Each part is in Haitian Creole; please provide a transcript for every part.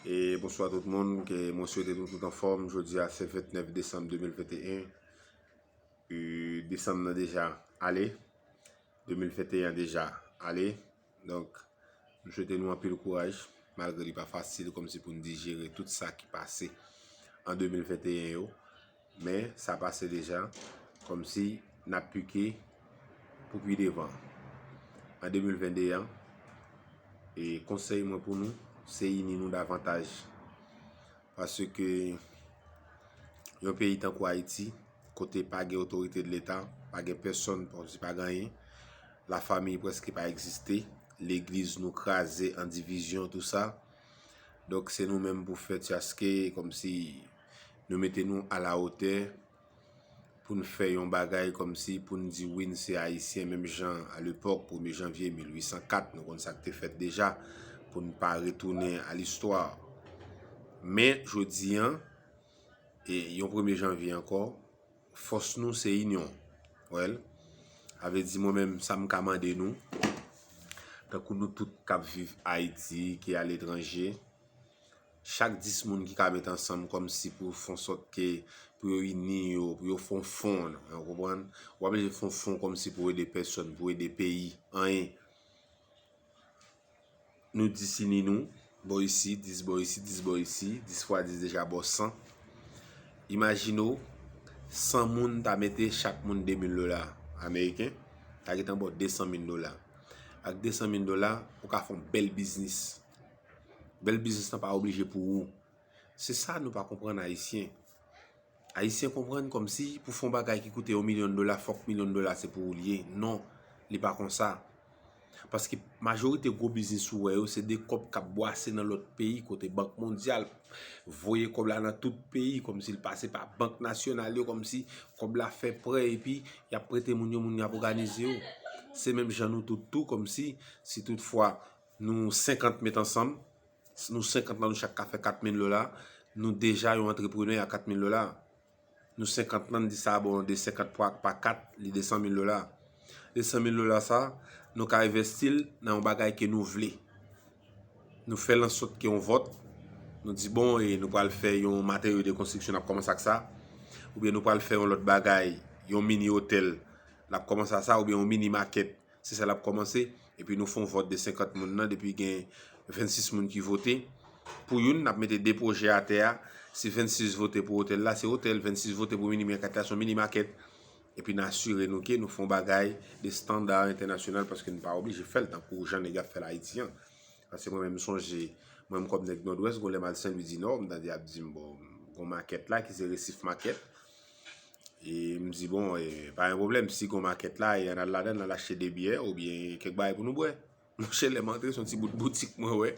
E bonswa tout moun, ke mwen swete nou tout anfòm, jodi a se 29 desanm 2021, e desanm nan deja ale, 2021 deja ale, donk m swete nou anpil kouraj, malgre li pa fasil, kòm se pou n dijere tout sa ki pase an 2021 yo. Men sa pase deja, kòmsi n ap pike pou pi devan. An 2022 an, e konsèy mwen pou nou, se ini nou davantaj. Paske yon peyi tankou Ayiti, kote pa gen otorite de leta, pa gen pèsòn, kòmsi pa gen anyen, la famiy prèske pa egziste, legliz nou kraze an divizyon, tou sa. Donk se nou menm pou fè ti aske kòmsi. Nou mete nou a la otè pou n fè yon bagay kòmsi pou n di wi n se Ayisyen menm jan a lepòk premye janvye 1804 nou konn sa k te fèt deja pou n pa retounen a listwa. Men jodi an e yon premye janvye ankò fòs nou se inyon wèl sa vle di mwen menm sa m ka mande nou tankou nou tout k ap viv Ayiti ki aletranje. Chak 10 moun ki ka met ansanm kòm si pou yo fon sòt ke, pou yo ini yo, pou yo fon fon, ou konprann? Ou pa blije fon fon kòm si pou ede pèsòn, pou ede peyi, anyen. Nou 10 ini nou, bò isi, 10 bò isi, 10 bò isi, 10 fwa 10 deja bò 100. Imajine w, 100 moun ta mete chak moun 2 mil dola ameriken, ta gen tan bò 200 mil dola. Ak 200 mil dola, ou ka fon bèl biznis. Bèl biznis lan pa oblije pou ou. Se sa nou pa konprann Ayisyen. Ayisyen konprann kòm si pou fè yon bagay ki koute yon milyon dola fòk milyon dola se pou ou li ye. Non, li pa kon sa. Paske majorite gwo biznis ou wè yo se de kòb k ap bwase nan lòt peyi kote Bank Mondyal voye kòb la nan tout peyi kòm si l pase pa bank nasyonal yo kòm si kòb la fè prè epi y ap prete moun yo moun yo ap òganize yo. Se menm jan nou tout tou kòm si si tout fwa Nou 50 met ansanm, nou 50 lan nou chak ka fè 4 mil dola, nou deja yon antreprenè a 4 mil dola. Nou 50 lan n di sa bon, 2, 50 pwa pa 4, li 200 mil dola. 200 mil dola sa, nou ka envèsti l nan yon bagay ke nou vle. Nou fè l an sòt ke yon vòt, nou di bon e nou pral fè yon materyo de konstriksyon n ap kòmanse ak sa, oubyen nou pral fè yon lòt bagay, yon mini otèl, n ap kòmanse ak sa, oubyen yon mini makèt, Se sa l ap kòmanse. Epi nou fè yon vòt de 50 moun nan, depi gen 26 moun ki vote pou youn, n ap mete 2 pwojè atè a. Si 26 vote pou otèl la, se otèl. 26 vote pou mini mèkèt la, se yon mini makèt. Epi n asire nou ke nou fè yon bagay de standa entènasyonal paske n pa oblije fè l tankou jan nèg ap fè l Ayiti an. Paske mwen menm m sonje, mwen menm kòm nèg Nòdwès, gen yon lè m al Senlwidinò, m tande y ap di m, bon, gen yon makèt la ki se Resif Makèt. E m di bon, e pa yon problem, si gon makèt la, e an al ladan, an al achte de byè, ou byen kèk bagay pou nou bwè. Monchè lè m antre, son ti bout boutik mwen wè,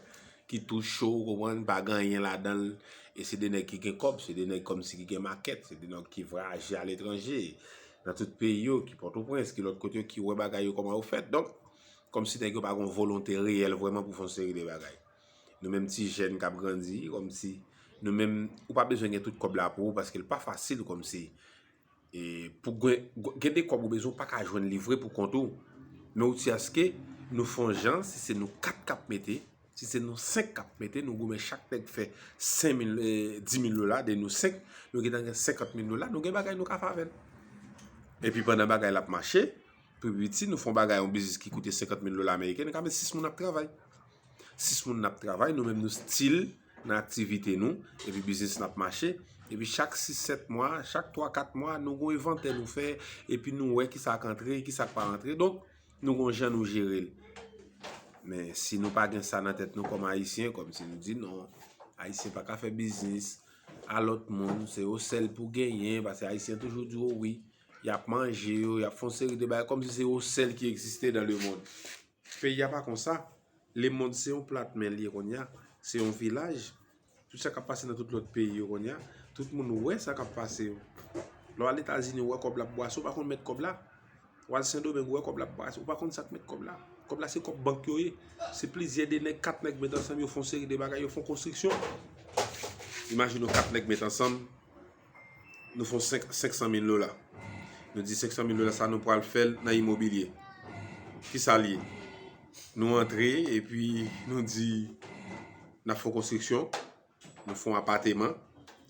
ki tou cho, ou konprann, pa gen anyen ladan l, e se de nèg ki gen kòb, se de nèg kòm si ki gen makèt, se de nòg ki vwayaje a letranje, nan tout peyi yo, ki Pòtoprens, ki lòt kote yo, ki wè bagay yo kòman yo fèt. Donk, kòm si nèg yo pa gon volonte reyèl vwèman pou fon seri de bagay. Nou menm ti jèn kap grandi kòm si nou menm ou pa bezwen gen tout kòb la pou ou paske l pa fasil kòm si e pou gen de kòb ou bezwen ou pa ka jwenn livre pou kont ou men ou ti aske nou fon jan si se nou 4 kap mete si se nou 5 kap mete nou goumen chak nèk fè 10.000 lola de nou 5 nou gen nan gen 50.000 lola nou gen bagay nou ka favèl e pi pandan bagay lap mache pou piti nou fon bagay yon bizis ki koute 50.000 lola ameriken nou ka met 6 moun ap travay 6 moun nap travay nou menm nou stil nan aktivite nou epi biznis nap mache epi chak 6, 7 mwa, chak 3, 4 mwa nou gwen vante nou fè epi nou wè kisa ak antre, kisa ak pa antre donk nou gwen jan nou jere l men si nou pa gen sa nan tèt nou kòm ayisyen kòm si nou di non ayisyen pa ka fè biznis alòt moun se yo sèl pou genyen pase ayisyen toujou di yo wi yap manje yo, yap fon seri de bay kòm si se yo sèl ki egziste dan le moun Peyi a pa konsa, lemond se yon plat men li ye konnya, se yon vilaj, tout sa kap pase nan tout lòt peyi yo konnya, tout moun wè sa kap pase yo, lè w al etazini ou wè kòb la ap bwase ou pa konn mèt kòb la, ou al sendomeng ou wè kòb la ap bwase ou pa konn sak mèt kòb la, kòb la se kòb bank yo ye, se plizyè de nèg, kat nèg met ansanm yo fon seri de bagay, yo fon konstriksyon, imajine w kat nèg met ansanm nou fon 500 mil dola. Nou di 500 mil dola sa nou pral fèl nan imobilye. Ki sa liye? Nou antre e pi nou di nan fon konstriksyon, nou fon apateman,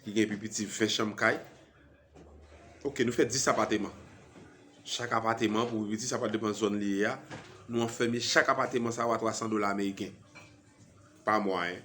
ki gen pi piti 20 chanm kay. Ok, nou fè 10 apateman. Chak apateman pou pi piti, sa pa depan zon liye ya, nou an fèmye chak apateman sa ou a 300 dola ameriken. Pa mwa, hein.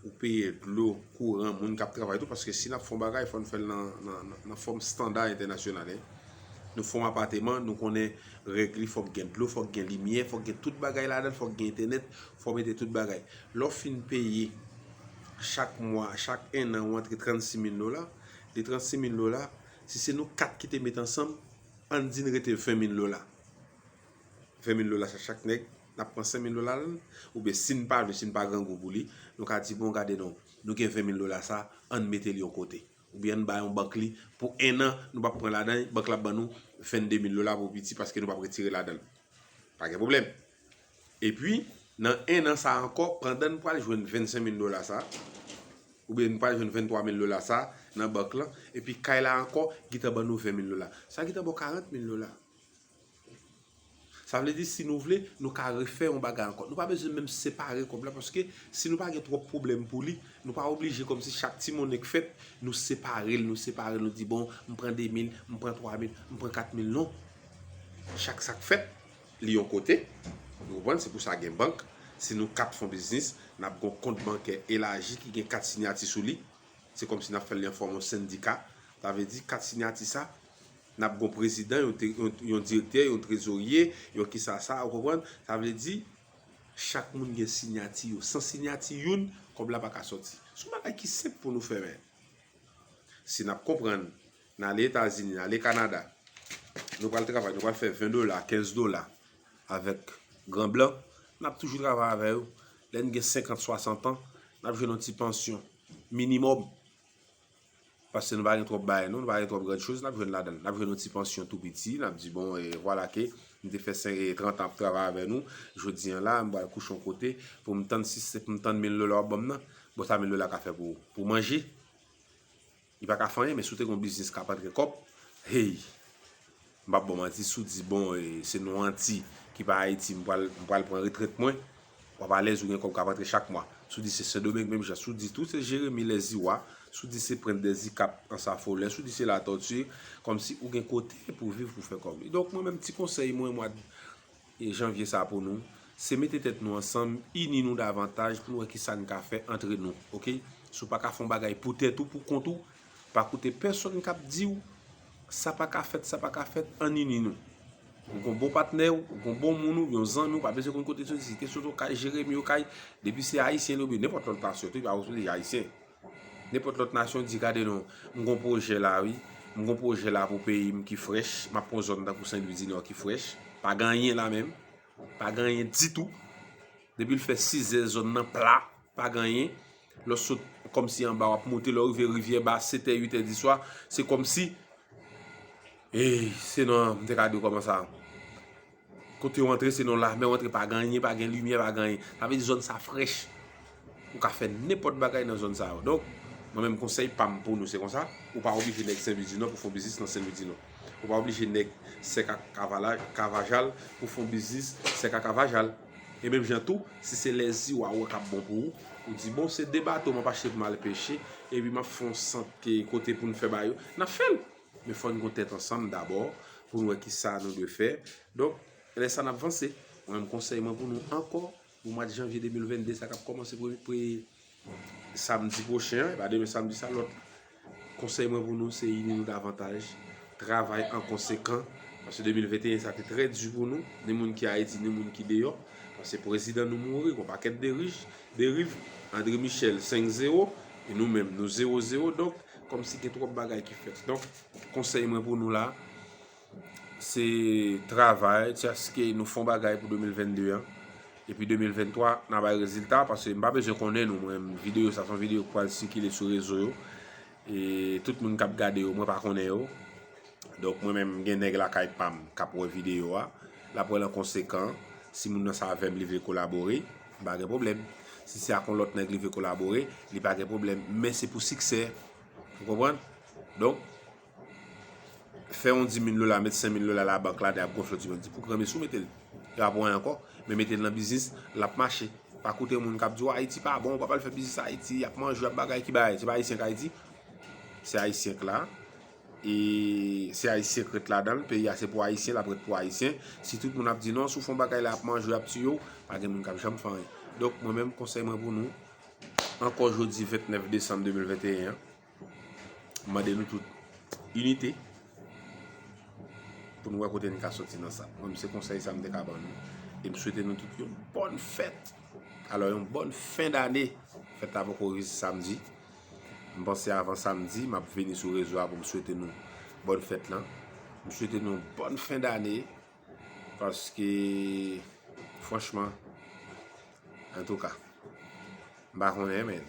Ou peye dlo, kouran, moun kap travay tou paske si nap fon bagay fòn fèl nan fòm standa entènasyonal hein. Nou fon apateman nou konnen règ li fòk gen dlo, fòk gen limyè, fòk gen tout bagay la dan, fòk gen entènèt, fò mete tout bagay. Lò fin peye chak mwa, chak 1 an ou antre 36 mil dola, de 36 mil dola si se nou 4 ki te met ansanm, ann di n rete 20 mil dola. 20 mil dola sa chak nèg. N ap pran 5000 dola l, oubyen si n pa vle, si n pa grangou pou li, nou ka di bon gade non, nou gen 20000 dola sa, an n mete l yon kote. Oubyen an n ba yon bank li pou ennan, nou pa p pran ladan li, bank la ap ban nou 22000 dola pou piti paske nou pa p retire ladan l. Pa gen pwoblèm. Epi, nan ennan sa ankò, pandan n pral jwenn 25000 dola sa, oubyen n pral jwenn 23000 dola sa nan bank lan, epi kay la ankò gentan ban nou 20000 dola. Sa gentan ba w 40000 dola. Sa vle di si nou vle, nou ka refè yon bagay ankò. Nou pa bezwen menm separe kòb la paske si nou pa gen twòp pwoblèm pou li, nou pa oblije kòm si chak ti monnen k fèt, nou separe l, nou separe l, nou di bon, m pran 2 mil, m pran 3 mil, m pran 4 mil. Non. Chak sa k fèt, li yon kote. Nou konprann? Se pou sa gen bank. Si nou 4 fon biznis, n ap gen yon kont bankè elaji ki gen 4 sinyati sou li. Se kòm si n ap fè l li an fòm yon sendika. Sa vle di 4 sinyati sa. Nap gon prezidan, yon direktè, yon trezorye, yon kisa sa, ou konprann? Sa vle di, chak moun gen sinyati yo. San sinyati youn, kòb la pa ka sòti. Se yon bagay ki senp pou nou fè men. Si nap konprann, nan ale Etazini, nan ale Kanada, nou pral travay, nou pral fè 20 dola, 15 dola, avèk gran blan, nap toujou travay avè yo. Lè n gen 50, 60 an, nap jwenn yon ti pansyon, minimòm. Paske nou pa gen twòp bagay non, nou pa gen twòp grandchoz n ap jwenn ladan l. N ap jwenn yon ti pansyon tou piti, n ap di bon e vwala ke m te fè sen e trantan ap travay avè nou, jodi an la m pral kouche yon kote pou m tann si se pou m tann mil dola w ap ban m nan. Bon sa mil dola ka fè pou ou? Pou w manje? Li pa ka fè anyen men si w te gen yon biznis k ap antre kòb, hey! M pap baw manti si w di bon se nou anti ki pa Ayiti m pral m pral pran retrèt mwen wap alèz ou gen kòb kap antre chak mwa si w di se sendomeng menm jan si w di tou se jeremi lèziwa si w di se prent dè zikap ansafolè si w di se latòti kòmsi ou gen kote pou viv pou fè kòb kidonk mwen menm ti konsèy mwen mwa Janvye sa pou nou, se mete tèt nou ansanm, ini nou davantaj pou nou wè kisa n ka fè antre nou ok, si w pa ka fè yon bagay pou tèt ou, pou kont ou, pa koute pèsonn k ap di w sa pa ka fèt, sa pa ka fèt, ann ini nou. Ou gen yon bon patnè w, ou gen yon bon moun ou, yon zanmi w, pa bezwen konn kote l soti, si te soti yon kay Jeremi, yon kay, depi se ayisyen li oubyen nenpòt lòt nasyon tou, pa oblije ayisyen. Nenpòt lòt nasyon di gade non, m gon pwojè la wi, m gon pwojè la pou peyi m ki frèch, m ap pran zòn tankou Senlwidinò ki frèch, pa gen anyen la menm, pa gen anyen ditou, depi l fè sizè zòn nan pla, pa gen anyen, lè w sot kòm si anba w ap moute, lè w rive rivyè ba setè, uitè diswa, se kòm si, eey, se nan, m te ka di w kòman sa. Kote ou antre se nan lame ou antre pa gen anyen, pa gen limyè, pa gen anyen. Sa vle di zòn sa frèch. Ou ka fè nenpòt bagay nan zòn sa yo. Donk, mwen menm konsèy pa m pou nou se konsa, ou pa oblije nèg Senlwidinò pou fè yon biznis nan Senlwidinò. Ou pa oblije nèg Sèk ak Kavalaj, Kavajal pou fè yon biznis Sèk ak Kavajal. E menm jan tou, si se lè zi wa wè k ap bon pou ou, ou di bon se 2 bato m ap achte pou m al peche, epi m ap fè yon sant kote pou n fè ba yo, n ap fè l. Men fò n gon tèt ansanm dabò pou n wè ki sa nou dwe fè. Donk, lè sa n ap vanse. Mwen menm konsèy mwen pou nou ankò pou mwa janvye 2022 sa k ap kòmanse pre samdi pwochen an, e pa demen samdi sa lòt la. Konsèy mwen pou nou se ini nou davantaj, travay an konsekan. Paske 2021 sa te trè di pou nou, ni moun ki Ayiti ni moun ki deyò. Paske prezidan nou mouri, gon pakèt de rich. Deriv Andre Michel 5 zero e nou menm nou zero zero donk kòm si gen twòp bagay ki fèt donk konsèy mwen pou nou la se travay tiaske nou fon bagay pou 2022 an epi 2023 nan bay rezilta pase m pa bezwen konnen nou mwen videyo sa son videyo pwal sikile sou rezo yo e tout moun kap gade yo mwen pa konnen yo donk mwen menm gen nèg la kay pam kap wè videyo a lap wè lan konsekan si moun nan sa vèm li vle kolabore. M pa gen pwoblèm. Si se ak yon lòt nèg li vle kolabore, li pa gen pwoblèm. Men se pou siksè. Ou konprann? Donk, fè yon 10 mil dola, met 5 mil dola la bank la, de ap gonfle, di men, di pou gran mesi ou mete l. Yo ap wè ankò. Men mete l nan biznis, l ap mache. Pa koute moun k ap di w Ayiti pa bon, ou pa pral fè biznis Ayiti, y ap manje, y ap bagay ki bagay. Se pa Ayisyen k Ayiti. Se Ayisyen k la. E se ayisyen k ret ladanl, peyi a se pou ayisyen lap ret pou ayisyen, si tout moun ap di non, si w fon bagay la yap manje w yap tiye w, pa gen moun kap janm fè anyen. Donk mwen menm konsèy mwen pou nou, ankò jodi 29 desanm 2021 an, m mande nou tout inite pou nou wè kote n ka soti nan sa. Mwen menm se konsèy sa m te ka ban nou, e m swete nou tout yon bòn fèt, alò yon bòn fen dane, fèt la poko rive se samdi. M panse avan samdi m ap vini sou rezo a pou m swete nou bòn fèt lan. M swete nou bòn fen dane paske franchman antouka m pa konnen men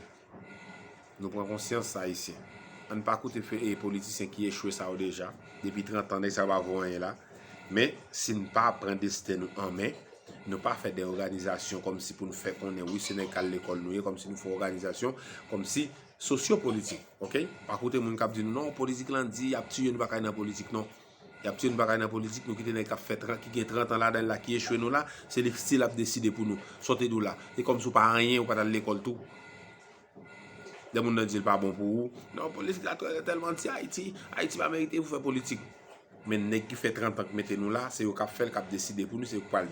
nou pran konsyans ayisyen. An n pa koute politisyen ki echwe sa yo deja depi 30 an nèg sa yo pa vo anyen la men si n pa pran desten nou an men. Nou pa fè de òganizasyon kòmsi pou nou fè konnen wi se nèg k al lekòl nou ye, kòmsi nou fè òganizasyon kòmsi sosyo politik ok. Pa koute moun k ap di nou non politik lan di y ap tiye nou pa ka ale nan politik non. Y ap tiye nou pa ka ale nan politik nou kite nèg k ap fè 30 ki gen 30 an ladan l la ki echwe nou la se li k stil ap deside pou nou. Sa w te di w la? Se kòmsi w pa anyen ou pa t al lekòl tou. Lè moun nan di l pa bon pou ou, non politik la tè tèlman anti Ayiti, Ayiti pa merite pou fè politik. Men nèg ki fè 30 an ki mete nou la, se yo k ap fè l, k ap deside pou nou, se yo k pral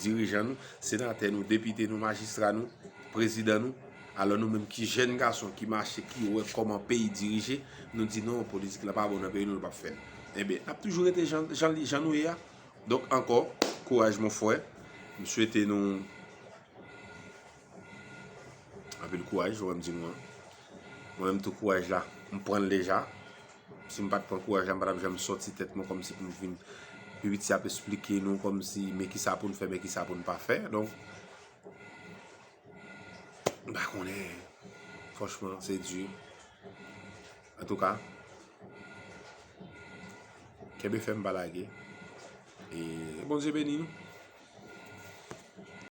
dirijan nou, senatè nou, depite nou, majistra nou, prezidan nou. Alò nou menm ki jèn gason ki mache, ki wè kòman peyi dirije, nou di non politik la pa bon nan peyi nou l pa p fè l. Enben, n ap toujou rete jan nou ye a. Donk ankò, kouraj mon frè. M swete nou. Anpil kouraj ou wèm di nou an. Mwen menm tou kouraj la, m pranl deja. Si m pat pran kouraj la m pa tap janm soti tèt mwen kòmsi pou m vin pi piti ap esplike nou kòmsi men kisa pou n fè men kisa pou n pa fè. Donk m pa konnen franchman se di. Antouka kenbe fèm pa lage e Bondye beni nou.